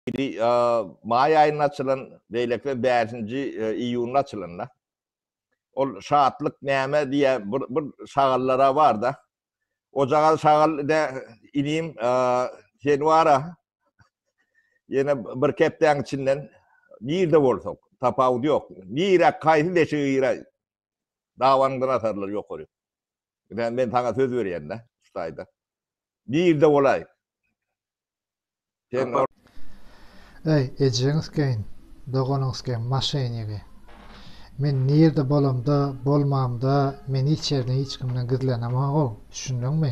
Biri maý aýynda açylan, beýleki bäşinji iýunda açylan-da. Ol Şatlyk näme diýýän bir şagallar-a bar-da. Ojagaz şagal ine, inim, sen bar-a, ýene birki hepdäň içinden nirde bolsak, tapawudy ýok, nirä, haýsy deşige giräý, Dawanyň gynatarlary ýokary. Ine, men saňa söz berýän-dä şu taýda. Birde bolaý. Sen Eý, ejeňizkäýin, doganyňyzkäýin maşenigi. Men nirde bolamda, bolmamda, men hiç ýerden hiç kimden gizlenemog-ow, düşündiňmi?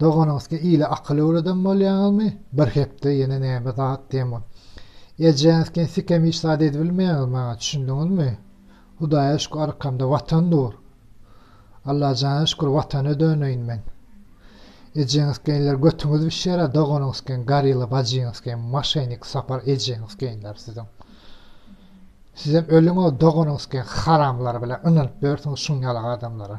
Doganyňyzky ile akyl öwreden bolýaňyzmy? Bir hepde ýene näme zat diýen bol. Ejäňizken sikem hiç zat edibilmeýäňiz maňa, düşündiňizmi? Hudaýa şükür arkamda Watan dur. Allajana şükür Watana döneýin men. Ejeňizkenler götüňiz bişýär-ä doganyňyzken Garilla bajyňyzken maşenik Sapar ejeňizkenler siziň. Sizem ölüň-ow doganyňyzken haramlar bilen ynanyp ýörsiňiz şuň ýaly adamlara.